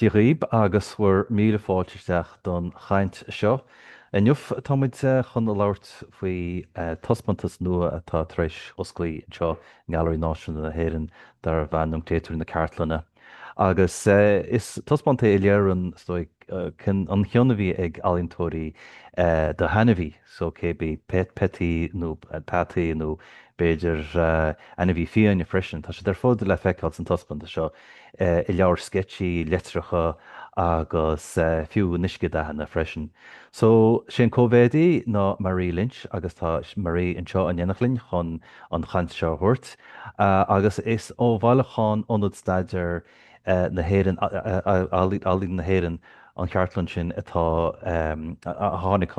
Dia dhaoib agus bhur míle fáilte isteach don chaint seo. Inniu tá muid chun labhairt faoi taispeántas nua atá tar éis oscailt anseo i nGailearaí Náisiúnta na hÉireann darbh ainm Créatúir na Cartlainne. Agus is taispeántas a léirionn is dóigh an cion a bhí ag ealaíontóirí do hainmhí so cé bith peataí nó Peataí nó b'fhéidir ainmhí fiáine freisin. Tá siad ar fad le feiceáil san taispeántas seo, i leabhair sceitse, litreacha agus fiú in uiscedhathanna freisin. So sé an coimeádaí ná Marie Lynch agus tá Marie anseo in éineacht linn chun. an chaint seo a thabhairt agus is ó bhailiúchán Ionad Staidéar na hÉireann, Ealaín na hÉireann, an chartlann sin, atá a tháinig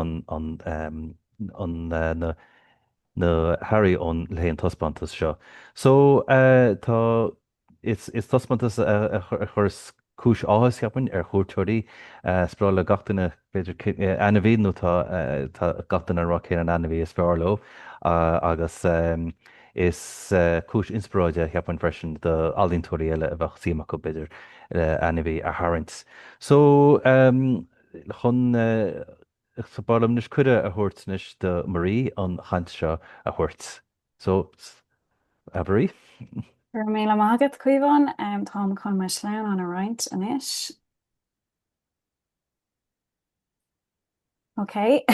na hearraí ó le haghaidh an taispeántas seo. So tá. Is taispeántas a chuireas cúis áthais, cheapfainn, ar chuairteoirí. Spreagann gach duine, b'fhéidir, ainmhí nó tá gach duine ag rá cén an ainmhí is fearr leo agus is cúis inspioráide, cheapfainn, freisin do ealaíontóirí eile a bheadh suim acu, b'fhéidir, ainmhí a tharraingt. So, chun, so, b'áil liom anois cuireadh a thabhairt anois do Marie an chaint seo a thabhairt. So, Marie. Go raibh míle maith agat, Caomhán. Táim chun mo shleamhnán a roinnt anois. Ok.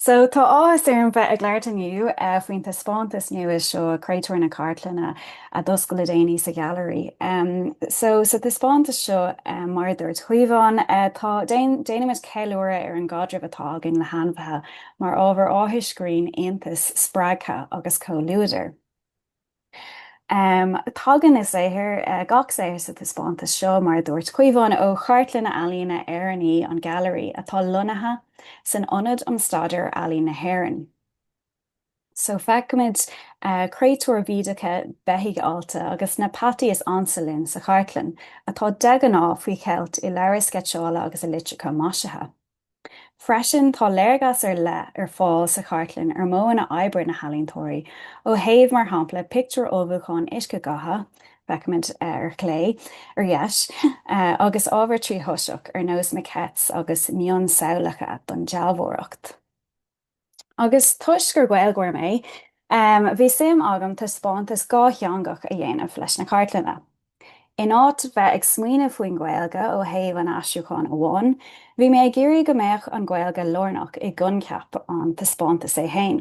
So, tá áthas orm bheith ag labhairt inniu faoin taispeántas nua seo, Créatúir na Cartlainne, a d'oscail le déanaí sa Ghailearaí. So, sa taispeántas seo, mar a dúirt Caomhán, tá, déanaimid ceiliúradh ar an gcaidreamh atá againn le hainmhithe mar ábhar áthais, grinn, iontais, spreagtha agus comhluadair. Tagann a saothar, gach saothar sa taispeántas seo, mar a dúirt Caomhán, ó chartlanna ealaíne Éireannaí an Ghailearaí atá lonnaithe san Ionad um Staidéar Ealaíne na hÉireann. So feicimid créatúir bhídeacha, beithígh allta agus na peataí is ansa linn sa chartlann, atá de ghnáth faoi cheilt i leabhair sceitseála agus i litreacha maisithe. Freisin tá léargas ar leith ar fáil sa chartlann ar mhodhanna oibre na n-ealaíontóirí ó thaobh mar shampla pictiúir ullmhúcháin uiscedhatha, feicimid ar chlé ar dheis, agus ábhar tríthoiseach ar nós maquettes agus mionsamhlacha don dealbhóireacht. Agus toisc gur Gaeilgeoir mé, bhí suim agam taispeántas dhátheangach a dhéanamh leis na cartlanna. In áit bheith ag smaoineamh faoin nGaeilge ó thaobh an aistriúcháin amháin, bhí mé ag iarraidh go mbeadh an Ghaeilge lárnach i gcoincheap an taispeántais é féin.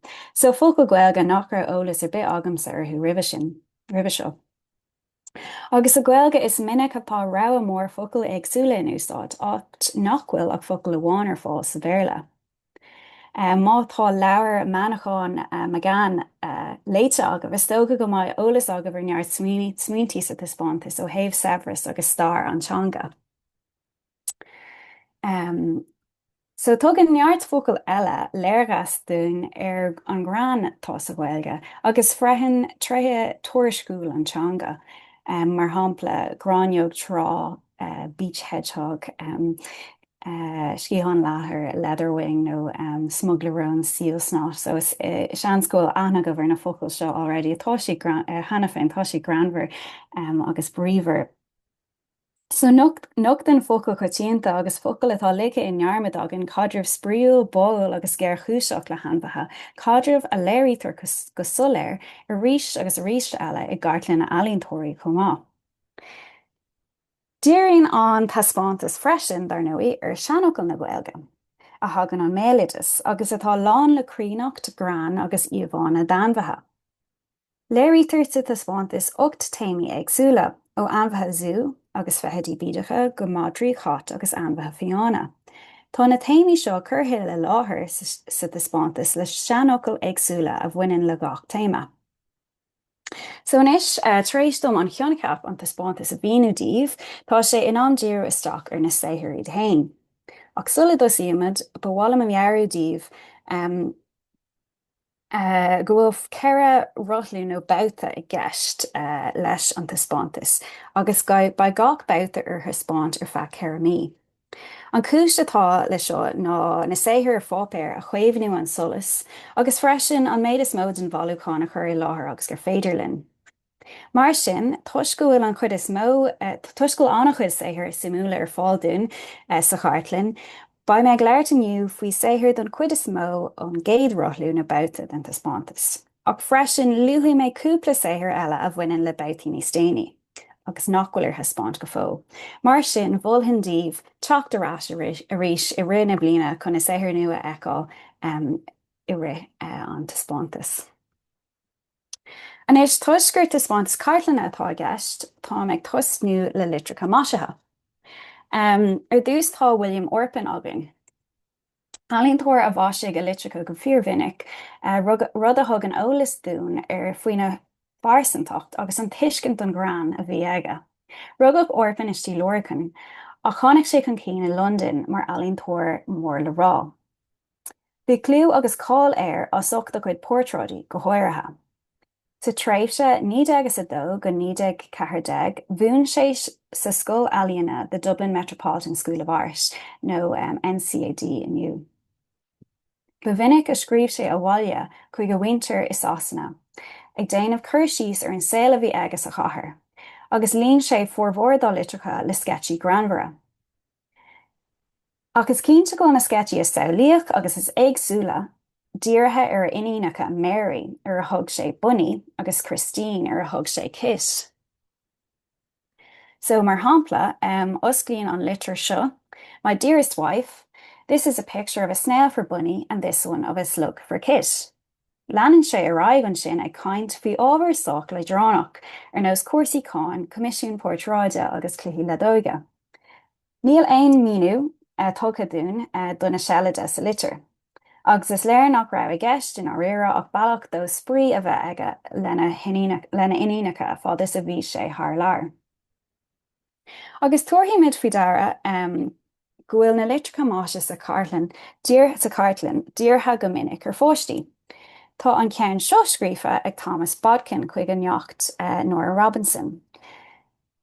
So, focail Gaeilge nach raibh eolas ar bith agamsa orthu roimhe sin, roimhe seo. Agus sa Ghaeilge is minic atá rogha mór focail éagsúla in úsáid, áit nach bhfuil ach focal amháin ar fáil sa Bhéarla. Má tá leabhar Manchán Magan léite agaibh, is dócha go mbeidh eolas agaibh ar neart smaointe sa taispeántas ó thaobh saibhreas agus stair an teanga. So tugann neart focal eile léargas dúinn ar an ngreann atá sa Ghaeilge agus freisin tréithe tuairisciúil an teanga, mar shampla gráinneog trá, beach hedgehog, sciathán leathair, leatherwing, nó smugairle róin, seal snot. So seans go bhfuil aithne agaibh ar na focail seo already. Tá siad, cheana féin, tá siad greannmhar agus bríomhar. So nochtann focail choitianta agus focail atá ligthe i ndearmad againn, caidreamh spraíúil, báúil agus géarchúiseach le hainmhithe, caidreamh a léirítear go soiléir arís agus arís eile i gcartlanna ealaíontóirí chomh maith. Díríonn an taispeántas freisin, dar ndóigh, ar seanfhocail na Gaeilge, a thagann ón mbéaloideas agus atá lán le críonnacht, greann agus íomhánna d'ainmhithe. Léirítear sa taispeántas ocht téamaí éagsúla, ó ainmhithe zú agus feithidí bídeacha go madraí, chait agus ainmhithe fiáine. Tá na téamaí seo curtha i láthair sa taispeántas le seanfhocail éagsúla a bhaineann le gach téama. So anois, tar éis dom an choincheap an taispeántais a mhíniú daoibh, tá sé in am díriú isteach ar na saothair iad fhéin. Ach sula dtosaímid, ba mhaith liom a mheabhrú daoibh, go bhfuil ceithre rothlú nó babhta i gceist leis an taispeántas agus beidh gach babhta ar thaispeáint ar feadh ceithre mí. An chúis atá le seo ná na saothair ar pháipéar a chaomhnú ón solas agus freisin an méid is mó den bhailiúchán a chur i láthair agus gur féidir linn. Mar sin, toisc go bhfuil an chuid is mó, toisc go bhfuil an-chuid saothair suimiúla ar fáil dúinn sa chartlann, beidh mé ag labhairt inniu faoi saothair don chuid is mó ón gcéad rothlú nó babhta den taispeántas, ach freisin luafaidh mé cúpla saothar eile a bhaineann le babhtaí níos déanaí agus nach bhfuil ar thaispeáint go fóill. Mar sin, mholfainn daoibh teacht ar ais arís i rith na bliana chun na saothair nua a fheiceáil i rith an taispeántas. Anois, toisc gur taispeántas cartlainne atá i gceist, táim ag tosnú le litreacha maisithe. Ar dtús tá William Orpen againn. Ealaíontóir a mhaisigh a litreacha go fíormhinic, rud a thugann eolas dúinn faoina phearsantacht agus an tuiscint don ghreann a bhí aige. Rugadh Orpen i Stigh Lorcan, ach tháinig sé chun cinn i Londain mar ealaíontóir mór le rá. Bhí clú agus cáil air as ucht a chuid portráidí, go háirithe. Sa tréimhse 1902 go 1914 mhúin sé sa scoil ealaíona The Dublin Metropolitan School of Art nó NCAD inniu. Ba mhinic a scríobh sé abhaile chuig a mhuintir i Sasana, ag déanamh cur síos ar an saol a bhí aige sa chathair, agus líon sé formhór dá litreacha le sceitsí greannmhara. Ach is cinnte go na sceitsí is samhlaíoch agus is éagsúla dírithe ar a iníonacha, Mary, ar a thug sé Bunny, agus Christine, ar a thug sé Kit. So, mar shampla, osclaíonn an litir seo, My dearest wife, This is a picture of a snail for Bunny and this one of a slug for Kit. Leanann sé ar aghaidh ansin ag caint faoi ábhar sách leadránach, ar nós cúrsaí cháin, coimisiún portráide agus cluichí leadóige. Níl aon míniú tugtha dúinn do na seilide sa litir, agus is léir nach raibh i gceist i ndáiríre ach bealach dó spraoi a bheith aige lena iníonacha fad is a bhí sé thar lear. Agus tabharfaimid faoi deara go bhfuil na litreacha maise sa chartlann, sa chartlann dírithe go minic ar pháistí. Tá an ceann seo scríofa ag Thomas Bodkin chuig a neacht Nora Robinson.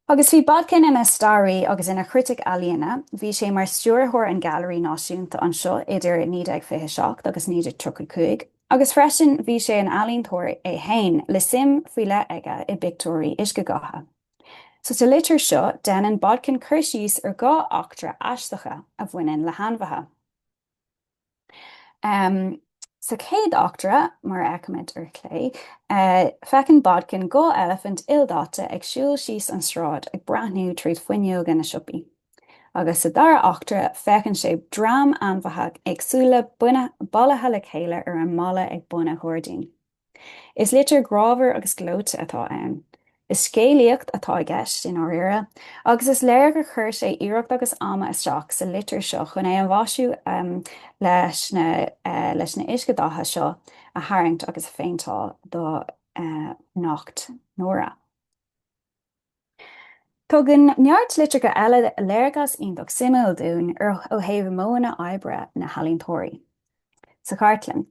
Agus bhí Bodkin ina staraí agus ina chritic ealaíona, bhí sé mar stiúrthóir an Ghailearaí Náisiúnta anseo idir 1927 agus 1935, agus freisin bhí sé ina ealaíontóir é féin le suim faoi leith aige i bpictiúirí uiscedhatha. So sa litir seo déanann Bodkin cur síos ar dhá eachtra aisteacha a bhaineann le hainmhithe. Sa chéad eachtra, mar a fheicimid ar chlé, feiceann Bodkin dhá eilifint ildaite ag siúl síos an sráid ag breathnú tríd fuinneoga na siopaí. Agus sa dara eachtra feiceann sé dream ainmhithe éagsúla bailithe le chéile ar an mballa ag bun a ghairdín. Is litir grámhar agus gleoite atá ann. Is scéalaíocht atá i gceist, i ndáiríre, agus is léir gur chuir sé iarracht agus ama isteach sa litir seo chun é a mhaisiú leis na uiscedhatha seo a tharraingt agus a phéinteáil do neacht Nóra. Tugann neart litreacha eile léargas iontach suimiúil dúinn ar ó thaobh modhanna oibre na n-ealaíontóirí. Sa chartlann.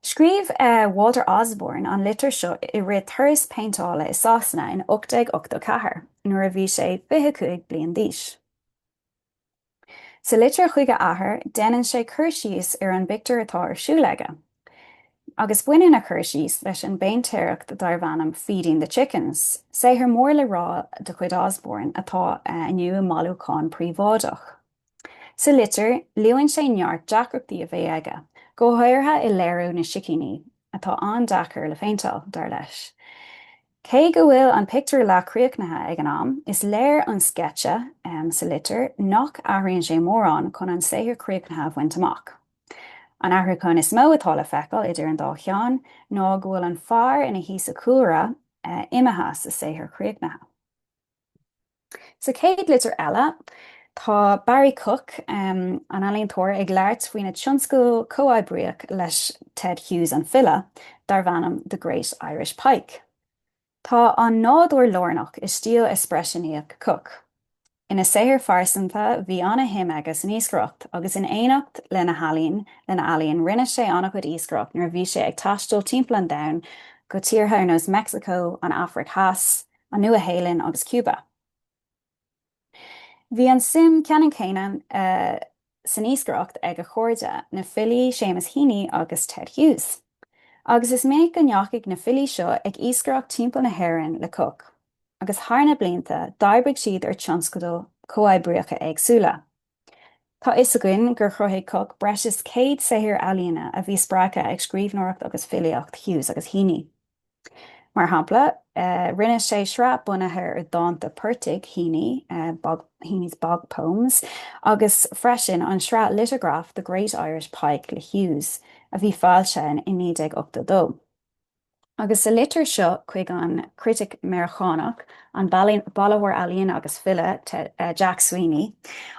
Scríobh Walter Osborne an litir seo i rith turas péinteála i Sasana in 1884 nuair a bhí sé 25 bliain d'aois. Sa litir chuig a athair déanann sé cur síos ar an bpictiúr atá ar siúl aige. Agus baineann a chur síos leis an bpéintéireacht darb ainm Feeding the Chickens, saothar mór le rá de chuid Osborne atá inniu i mbailiúchán príobháideach. Sa litir luann sé neart deacrachtaí a bheidh aige, go háirithe i léiriú na sicíní, atá an-deacair le péinteáil, dar leis. Cé go bhfuil an pictiúr leath críochnaithe ag an am, is léir ón sceitse sa litir nach athraíonn sé mórán chun an saothar críochnaithe a bhaint amach. An athrúchán is mó atá le feiceáil idir an dá cheann ná go bhfuil an fear ina shuí sa chúlra imithe sa saothar críochnaithe. Sa chéad litir eile, tá Barrie Cooke, an ealaíontóir ag labhairt faoina tionscadal comhoibríoch leis Ted Hughes an file, darb ainm The Great Irish Pike. Tá an nádúr lárnach i stíl eispreisiúnaíoch Cooke. Ina shaol pearsanta bhí ana-shuim aige san iascaireacht agus in éineacht lena healaín lena ealaín rinne sé an-chuid iascaireacht nuair a bhí sé ag taisteal timpeall an domhain go tíortha nós Mexico, an Afraic Theas, an Nua-Shéalainn agus Cuba. Bhí an suim ceannann céanna san iascaireacht ag a chairde, na filí Seamus Heaney agus Ted Hughes, agus is minic go ndeachaidh na filí seo ag iascaireacht timpeall na hÉireann le Cooke, agus thar na blianta d'oibrigh siad ar tionscadal chomhoibríocha éagsúla. Tá a fhios againn gur chruthaigh Cooke breis is 100 saothar ealaíona a bhí spreagtha ag scríbhneoireacht agus filíocht Hughes agus Heaney. Mar shampla, rinne sé sraith bunaithe ar dhánta portaigh Heaney, Heaney's Bog Poems, agus freisin an sraith liteagraf The Great Irish Pike le Hughes, a bhí foilsithe i 1982. Agus sa litir seo chuig an critic Meiriceánach, an bailitheoir ealaíne agus file Jack Sweeney,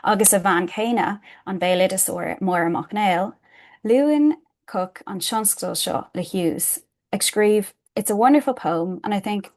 agus a bhean chéile, an béaloideasóir Máire Mac Néill, luann Cooke an tionscadal seo le Hughes, ag scríobh, It's a wonderful poem and I think.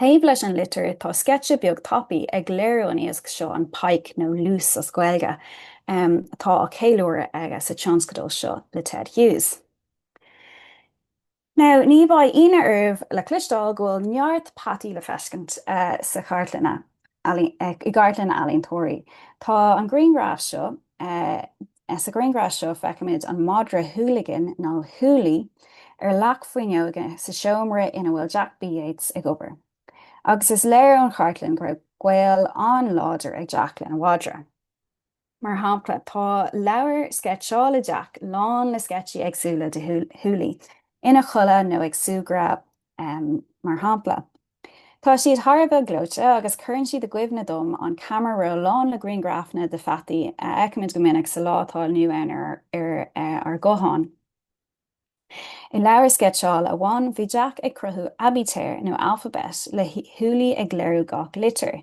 Taobh leis an litir tá sceitse beag tapaidh ag léiriú an iasc seo, an pike nó liús as Gaeilge, atá á cheiliúradh aige sa tionscadal seo le Ted Hughes. Now, ní bheidh ionadh oraibh le cloisteáil go bhfuil neart peataí le feiscint sa chartlann, i gcartlanna ealaíontóirí. Tá an grianghraf seo Sa ghrianghraf seo feicimid an madra Hooligan, nó Hooli, ar leac fuinneoige sa seomra ina bhfuil Jack B Yeats ag obair. Agus is léir ón chartlann go raibh gaol an-láidir ag Jack lena mhadra. Mar shampla, tá leabhair sceitseála Jack lán le sceitsí éagsúla de Hooli ina chodladh nó ag súgradh, mar shampla. Tá siad thar a bheith gleoite agus cuireann siad i gcuimhne dom an camera roll lán le grianghrafanna de pheataí a fheicimid go minic sa lá atá inniu ann ar ár gutháin. I leabhar sceitseála amháin bhí Jack ag cruthú aibítir nó alphabet le Hooli ag léiriú gach litir.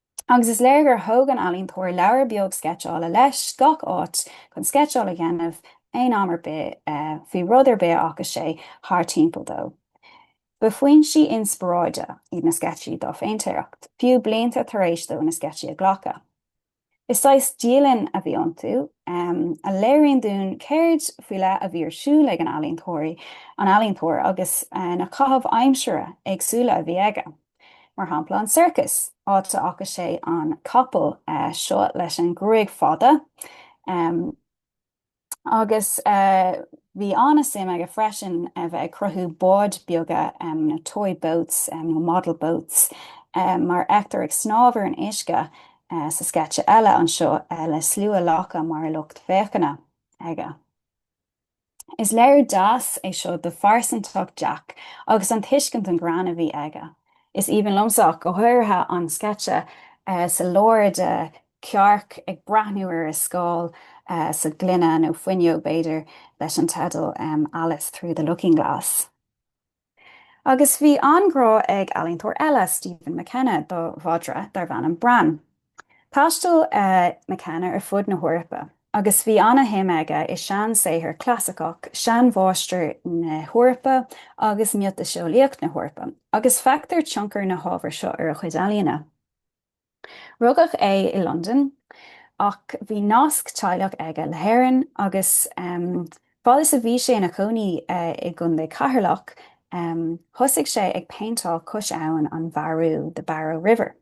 Agus is léir gur thóg an ealaíontóir leabhar beag sceitseála leis gach áit chun sceitseáil a dhéanamh aon am ar bith faoi rud ar bith a chonaic sé thart timpeall dó. Ba fhoinsí inspioráide iad na sceitsí dá phéintéireacht, fiú blianta tar éis dó na sceitsí a ghlacadh. Is saghas dialann a bhí iontu, a léiríonn dúinn céard faoi leith a bhí ar siúl ag an ealaíontóir agus na caitheamh aimsire éagsúla a bhí aige. mar shampla an circus, áit a chonaic sé an capall seo leis an ngruaig fada, agus bhí an-suim aige freisin a bheith ag cruthú báid beaga, na toy boats nó model boats mar a fheictear ag snámh ar an uisce sa sceitse eile anseo le slua lacha mar lucht féachana aige. Is léiriú deas é seo do phearsantacht Jack agus an tuiscint an greann a bhí aige. Is aoibhinn liomsa ach go háirithe an sceitse sa lár de cearc ag breathnú ar a scáil sa ghloine, nó fuinneog b'fhéidir, leis an teideal Alice through the looking glass. Agus bhí an-ghrá ag ealaíontóir eile, Stephen McKenna, do mhadra darbh ainm Bran. Thaistil McKenna ar fud na hEorpa agus bhí ana-shuim aige i seansaothar clasaiceach, seanmháistrí na hEorpa agus miotaseolaíocht na hEorpa, agus feictear tionchar na hábhair seo ar a chuid ealaíne. Rugadh é i Londain ach bhí nasc teaghlach aige le hÉirinn agus fad is a bhí sé ina chónaí i gContae Cheatharlach thosaigh sé ag péinteáil cois abhainn na Bearú, the Barrow River.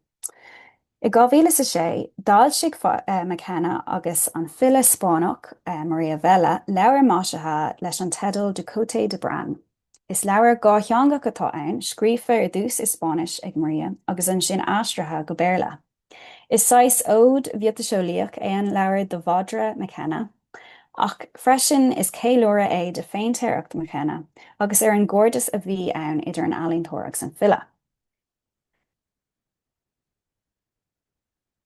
I 2006 d'fhoilsigh McKenna agus an file Spáinneach María Vela leabhar maisithe leis an teideal Du Côté de Bran. Is leabhar dhátheangach atá ann, scríofa ar dtús i Spáinnis ag Maria agus ansin aistrithe go Béarla. Is saghas óid mhiotaseolaíoch é an leabhar do mhadra McKenna, ach freisin is ceiliúradh é de phéintéireacht McKenna agus ar an gcairdeas a bhí ann idir an ealaíontóir agus an file.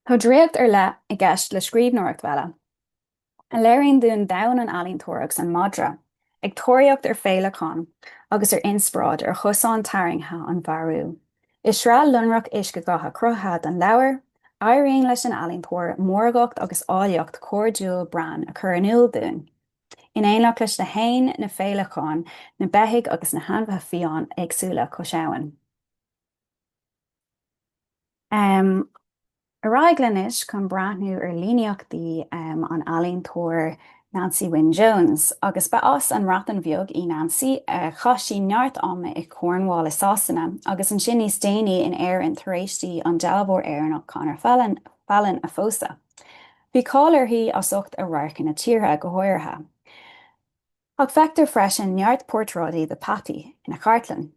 Tá draíocht ar leith i gceist le scríbhneoireacht Vela. a léiríonn dúinn domhan an ealaíontóra agus an madra ag tóraíocht ar féileacán agus ar inspioráid ar chosán tarraingthe an Bhearú. I sraith lonrach uiscedhatha cruthaithe don leabhar, éiríonn leis an ealaíontóir mórgacht agus áilleacht chairdiúil Bran a chur in iúl dúinn, in éineacht leis na héin, na féileacáin, na beithígh agus na hainmhithe fiáin éagsúla cois abhann. Ar aghaidh linn anois chun breathnú ar líníochtaí an ealaíontóir Nancy Wynne Jones. Agus ba as an mBreatain Bheag í Nancy, chaith sí neart ama i Cornwall i Sasana agus ansin níos déanaí in Éirinn tar éis di an dealbhóir Éireannach Conor Fallon a phósadh. Bhí cáil uirthi as ucht a radharcanna tíortha go háirithe. Ach feictear freisin neart portráidí de Patti ina chartlann.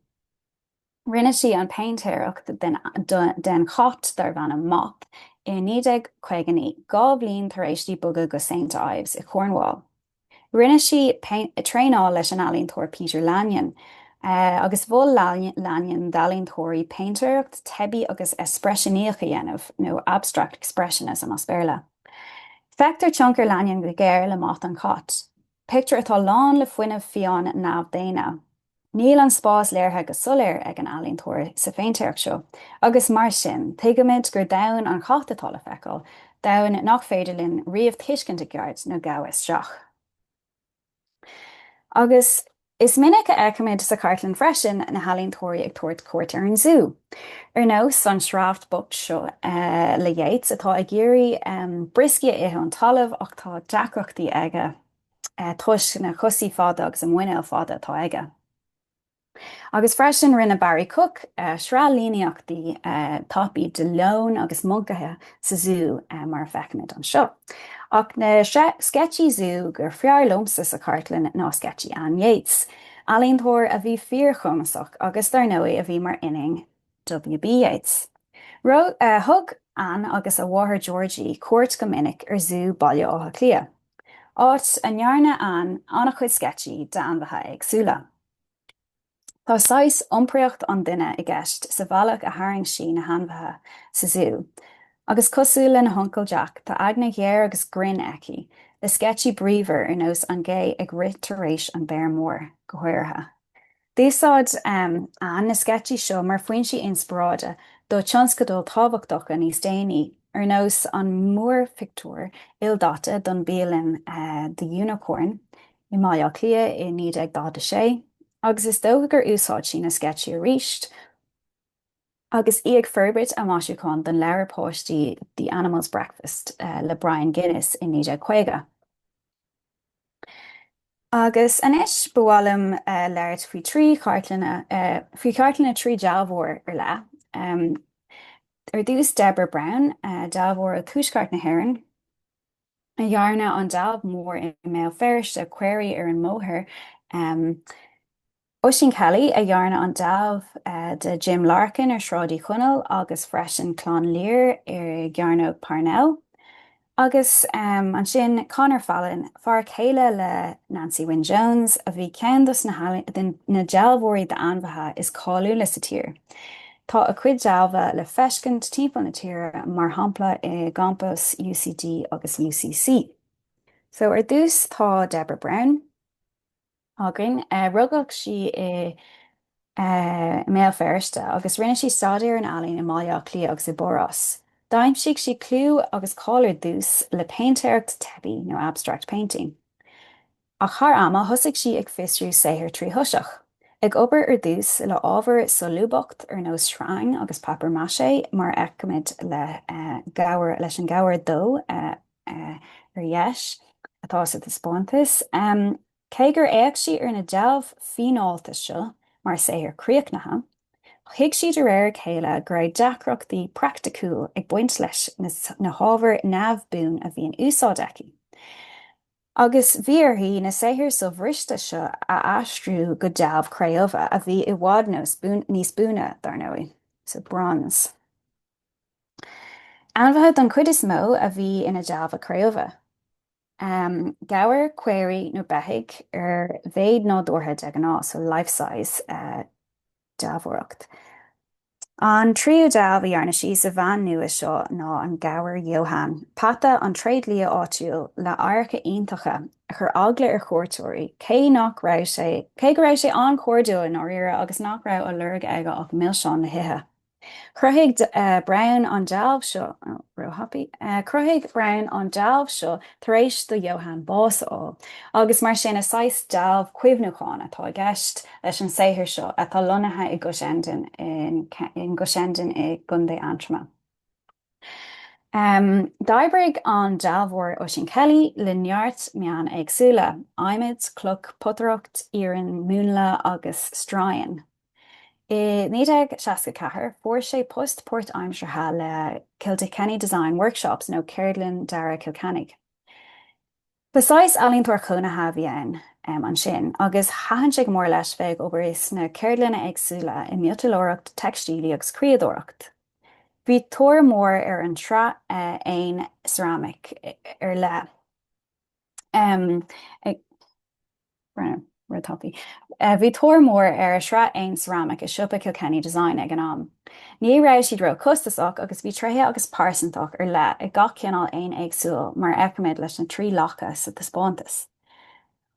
Rinne sí an péintéireacht den chat darbh ainm Moth i 1959, dhá bhliain tar éis di bogadh go Saint Ives i Cornwall. Rinne sí traenáil leis an ealaíontóir Peter Lanyon, agus mhol Lanyon d'ealaíontóirí péintéireacht teibí agus eispriseanaíoch a dhéanamh, nó abstract expressionism as Béarla. Feictear tionchar Lanyon go géar le Moth an cat, pictiúr atá lán le fuinneamh fiáin neamhdhaonna. Níl an spás léirithe go soiléir ag an ealaíontóir sa phéintéireacht seo agus mar sin tuigimid gur domhan an chait atá le feiceáil, domhan nach féidir linn riamh tuiscint i gceart nó gabháil isteach. Agus is minic a fheicimid sa chartlann freisin na healaíontóirí ag tabhairt cuairt ar an zú. Ar nós an sioráf bocht seo le Yeats atá ag iarraidh brioscaí a ithe ón talamh ach tá deacrachtaí aige. toisc na cosaí fada agus an muinéal fada atá aige. Agus freisin rinne Barrie Cooke sraith líníochtaí tapaí de leoin agus moncaithe sa zú mar a fheicimid anseo. Ach na sceitsí zú gur fearr liomsa sa chartlann ná sceitsí Anne Yeats, ealaíontóir a bhí fíorchumasach agus dar ndóigh a bhí mar iníon WB Yeats. Thug Anne agus a máthair Georgie cuairt go minic ar zú Baile Átha Cliath. áit a ndearna Anne an-chuid sceitsí d'ainmhithe éagsúla. Tá saghas iompraíocht an duine i gceist sa bhealach a tharraing sí na hainmhithe sa zú, agus cosúil lena huncail Jack, tá eagna ghéar agus grinn aici, le sceitsí bríomhar ar nós an gé ag rith tar éis an béar mór, go háirithe. D'úsáid Anne na sceitsí seo mar foinsí inspioráide do tionscadail tábhachtacha níos déanaí, ar nós an múrphictiúr ildaite don bialann The Unicorn i mBaile Átha Cliath i 1946, agus is dócha gur úsáid sí na sceitsí aríst agus í ag forbairt a maisiúcháin don leabhar páistí The Animals' Breakfast le Bryan Guinness i 1950. Agus anois ba mhaith liom labhairt faoi trí chartlanna, faoi chartlanna trí dealbhóir ar leith. Ar dtús Deborah Brown, dealbhóir ó Tuaisceart na hÉireann, a dhearna an dealbh mór i mBéal Feirste, Caoirigh ar an mBóthar. Oisín Kelly a dhearna an dealbh de Jim Larkin ar Sráid Uí Chonaill agus freisin Clann Lir ar gCearnóg Parnell. Agus ansin Conor Fallon, fear céile le Nancy Wynne Jones, a bhí ceann dos na dealbhóirí d'ainmhithe is cáiliúla sa tír. Tá a cuid dealbha le feiscint timpeall na tíre mar shampla i gcampas UCD agus UCC. So ar dtús tá Deborah Brown. againn. Rugadh sí i mBéal Feirste agus rinne sí staidéar an ealaín i mBaile Átha Cliath agus i bPáras. D'aimsigh sí clú agus cáil ar dtús le péintéireacht teibí nó abstract painting. Ach thar ama thosaigh sí ag fiosrú saothair trí thoiseach, ag obair ar dtús le ábhair solúbthacht ar nós sreang agus papier mâché mar a fheicimid leis an gabhar dó Ar dheis atá sa taispeántas. Cé gur fhéach sí ar na dealbh fíneálta seo mar saothair críochnaithe, thuig sí de réir a chéile go raibh deacrachtaí praiticiúil ag baint leis na hábhair neamhbhuan a bhí in úsáid aici, agus bhí uirthi na saothair sobhriste seo a aistriú go dealbh cré-umha a bhí i bhfad níos buaine, dar ndóigh, so bronze. Ainmhithe den chuid is mó a bhí ina dealbha cré-umha. Gabhair, caoirigh nó beithígh ar mhéid nádúrtha de ghnáth, so life size dealbhóireacht. An tríú dealbh a dhearna sí sa mheán nua seo ná an gabhar Johan, peata an tréidlia áitiúil le adharca iontacha a chuir eagla ar chuairteoirí cé go raibh sé an-chairdiúil i ndáiríre agus nach raibh á lorg aige ach milseáin le hithe. Chruthaigh Brown an dealbh seo, real happy, chruthaigh Brown an dealbh seo tar éis do Johann bás a fháil agus mar sin is saghas dealbh cuimhniúcháin atá i gceist leis an saothar seo atá lonnaithe i gCushendun in gCushendun i gContae Aontroma. D'oibrigh an dealbhóir Oisín Kelly le neart meáin éagsúla, adhmad, cloch, potaireacht, iarann múnla agus stroighin. I 1964 fuair sé post páirtaimseartha le Kilkenny Design Workshops nó Ceardlann Dearaidh Chill Chainnigh. Ba saghas ealaíontóir cónaithe a bhí ann ansin agus thaitin sé go mór leis bheith ag obair sna ceardlanna éagsúla i miotalóireacht, teicstílí agus criadóireacht. Bhí tóir mór ar an tsraith éan ceramic ar leith. Bhí tóir mór ar a sraith éan ceramic i siopa Kilkenny Design ag an am. Ní raibh siad ró chostasach agus bhí tréithe agus pearsantacht ar leith ag gach cineál éin éagsúil mar a fheicimid leis na trí lacha sa taispeántas.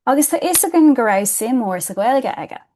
Agus tá fhios againn go raibh suim mór sa Ghaeilge aige!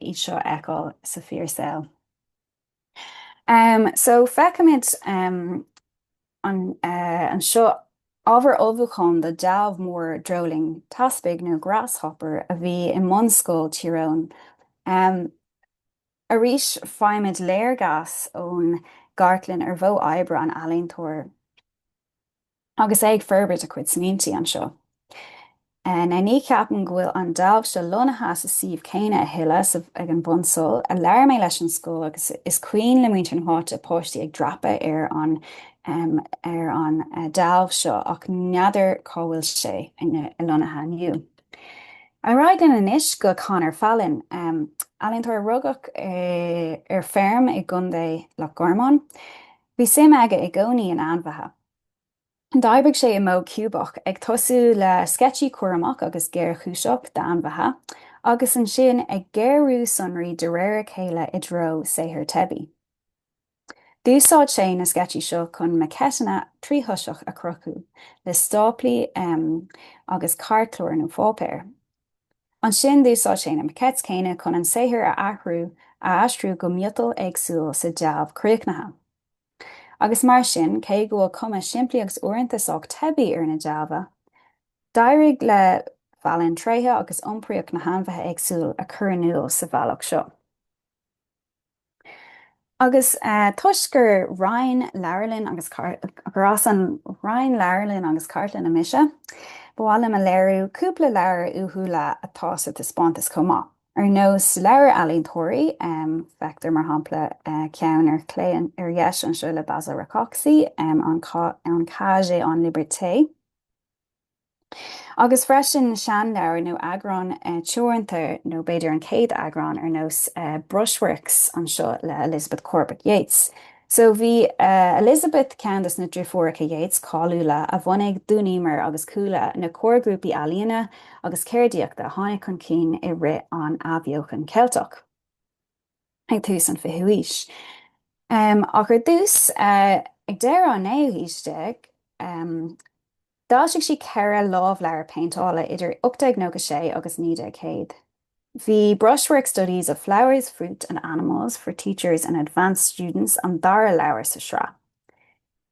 iad seo a fheiceáil sa fíor saol. So feicimid anseo ábhar ullmhúcháin do dealbh mór dreoilín teaspaigh nó grasshopper a bhí i mbunscoil Tír Eoghain. Arís faighimid léargas ón gcartlann ar mhodh oibre an ealaíontóir. Agus é ag forbairt a chuid smaointí anseo, now ní cheapaim go bhfuil an dealbh seo lonnaithe sa suíomh céanna a thuilleadh, sa ag an bhunscoil a labhair mé leis an scoil agus is cuimhin le muintir na háite páistí ag dreapadh ar an ar an dealbh seo ach n'fheadar cá bhfuil sé lonnaithe inniu. Ar aghaidh linn anois go Conor Fallon, ealaíontóir a rugadh ar feirm i gContae Loch Garman. Bhí suim aige i gcónaí in ainmhithe. D'oibrigh sé i modh ciúbach, ag tosú le sceitsí cúramach agus géarchúiseach d'ainmhithe, agus ansin ag géarú sonraí de réir a chéile i dtreo saothar teibí. D'úsáid sé na sceitsí seo chun maquetteanna tríthoiseach a chruthú, le stáplaí agus cairtchlár nó pháipéar. Ansin d'úsáid sé na maquettes céanna chun an saothar a athrú, a aistriú go miotal éagsúil sa dealbh críochnaithe. Agus mar sin, cé go bhfuil cuma simplí agus uaireanta sách teibí ar na dealbha, d'éirigh le Fallon tréithe agus iompraíocht na hainmhithe éagsúil a chur in iúl sa bhealach seo. Agus toisc gur Roinn Leabharlann agus gur as an Roinn Leabharlann agus Cartlainne mise, ba mhaith liom a léiriú cúpla leabhar uathúla atá sa taispeántas chomh maith. Ar nós leabhair ealaíontóirí, feictear mar shampla ceann ar chlé ar dheis anseo le Basil Rákóczi, En Cage et en Liberté, agus freisin seanleabhair nó eagráin teoranta nó b'fhéidir an chéad eagrán ar nós Brushworks anseo le Elizabeth Corbett Yeats. So bhí Elizabeth ceann dos na driofúracha Yeats cáiliúla a bhunaigh Dun Emer agus Cuala, na comharghrúpaí ealaíona agus ceardaíochta a tháinig chun cinn i rith an athbheochan Ceilteach. ag tús an 20ú haois. Ach ar dtús, ag deireadh an naoú haois déag, d'fhoilsigh sí ceithre lámhleabhar péinteála idir 1896 agus 1900. Bhí Brushwork Studies of Flowers, Fruit and Animals, for Teachers and Advanced Students an dara leabhar sa sraith.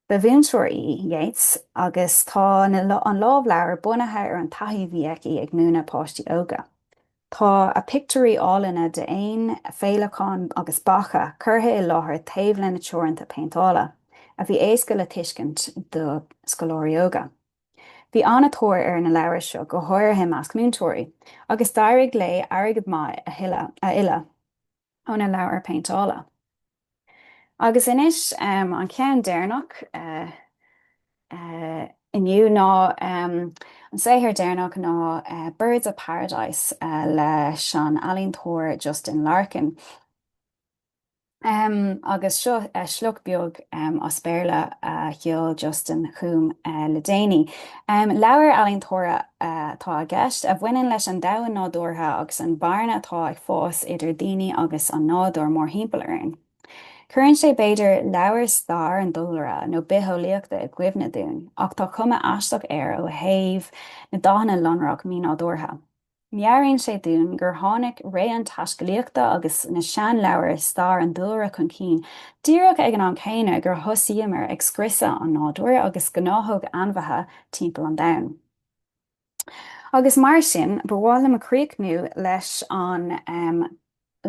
Ba mhúinteoir í Yeats agus tá an lámhleabhar bunaithe ar an taithí a bhí aici ag múineadh páistí óga. Tá a pictiúirí áilleanna d'éin, féileacáin agus beacha curtha i láthair taobh lena treoracha péinteála, a bhí éasca le tuiscint do scoláirí óga. Bhí an-tóir ar na leabhair seo, go háirithe i measc múinteoirí, agus d'éirigh léi airgead maith a thuilleadh. óna leabhair péinteála. Agus anois an ceann deireanach inniu ná an saothar deireanach ná Birds of Paradise leis an ealaíontóir Justin Larkin. Agus seo sliocht beag as Béarla a sheol Justin chugam le déanaí. Leabhar ealaíontóra atá i gceist, a bhaineann leis an domhan nádúrtha agus an bhearna atá ag fás idir daoine agus an nádúr mórthimpeall orainn. Cuireann sé b'fhéidir leabhar stair an dúlra nó bitheolaíochta i gcuimhne dúinn, ach tá cuma aisteach air ó thaobh na dathanna lonrach mínádúrtha. Meabhraíonn sé dúinn gur tháinig ré an taiscealaíochta agus na seanleabhair stair an dúlra chun cinn díreach ag an am céanna gur thosaíomar ag scriosadh an nádúir agus gnáthóg ainmhithe timpeall an domhain. Agus mar sin, ba mhaith liom críochnú leis an.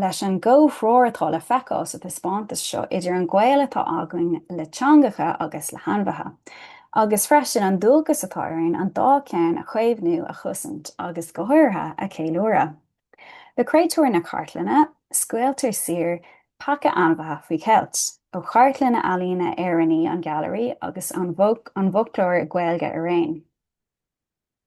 leis an gcomhthreoir atá le feiceáil sa taispeántas seo idir an gaol atá againn le teangacha agus le hainmhithe, agus freisin an dualgas atá orainn an dá cheann a chaomhnú, a chosaint agus, go háirithe, a cheiliúradh. Le Créatúir na Cartlainne, scaoiltear saor paca ainmhithe faoi cheilt, ó chartlann ealaíne Éireannaí an Ghailearaí agus an bhfoclóir Gaeilge araon.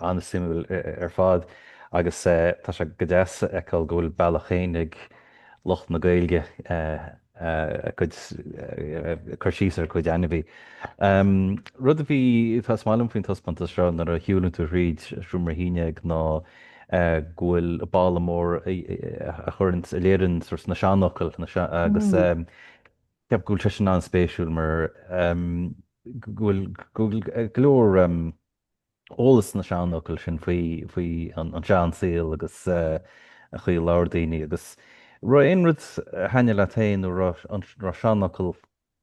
an-suimiúil ar fad agus tá sé go deas a fheiceáil go bhfuil bealach féin ag lucht na Gaeilge a gcuid, cur síos ar a gcuid ainmhithe. Rud a bhí, tá, is maith liom faoin taispeántas seo nuair a shiúlann tú thríd seomra a haon ná go bhfuil balla mór a chuireann, a léireann sort na seanfhocail agus ceapaim go bhfuil sé sin an-spéisiúil mar go bhfuil go leor eolais sna seanfhocail sin faoi an sean saol agus an chaoi ar labhair daoine agus an raibh aon rud a thaitin leat féin nó an raibh seanfhocal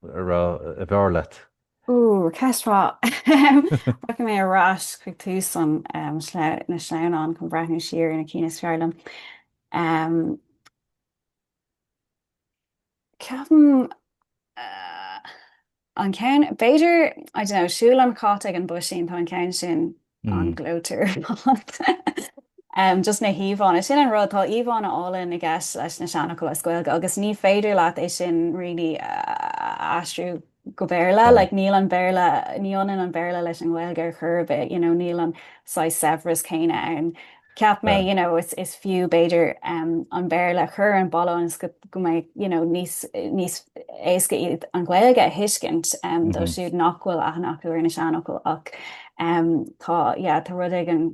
ab fhearr leat? Ooh, ceist mhaith. Rachaidh mé ar ais chuig tús na sleamhnán chun breathnú siar ar na cinn is fearr liom. Ceapaim an ceann, b'fhéidir, I don't know, siúl an chait ag an bpuisín, tá an ceann sin an-ghleoite ar fad. Just na híomhánna, sin an rud, tá íomhánna áille i gceist leis na seanfhocail as Gaeilge agus ní féidir leat é sin really a aistriú. go Béarla, like níl an Béarla, ní ionann an Béarla leis an nGaeilge ar chor ar bith, you know, níl an saghas saibhreas céanna ann. Cheap mé, you know, is, is fiú b'fhéidir an Béarla a chur ar an mballa ionas go, go mbeidh, you know, níos, níos éasca iad an Ghaeilge a thuiscint dóibh siúd nach bhfuil aithne acu ar na seanfhocail ach tá, yeah, tá rud éigin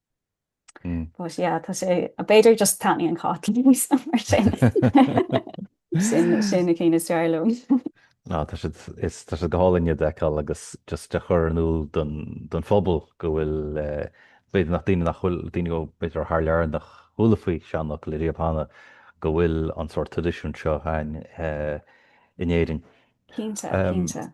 But yeah tá sé b'fhéidir just taitníonn an cat liom mar sin. Sin iad na cinn is fearr liom. Ná tá siad tá siad go hálainn iad a fheiceáil agus just a chur in iúl don don phobal go bhfuil b'fhéidir nach daoine nach bhfuil daoine go b'fhéidir thar lear nach gcuala faoi seanfhocail ariamh cheana go bhfuil an sórt traidisiúin seo againn in Éirinn. Cinnte cinnte.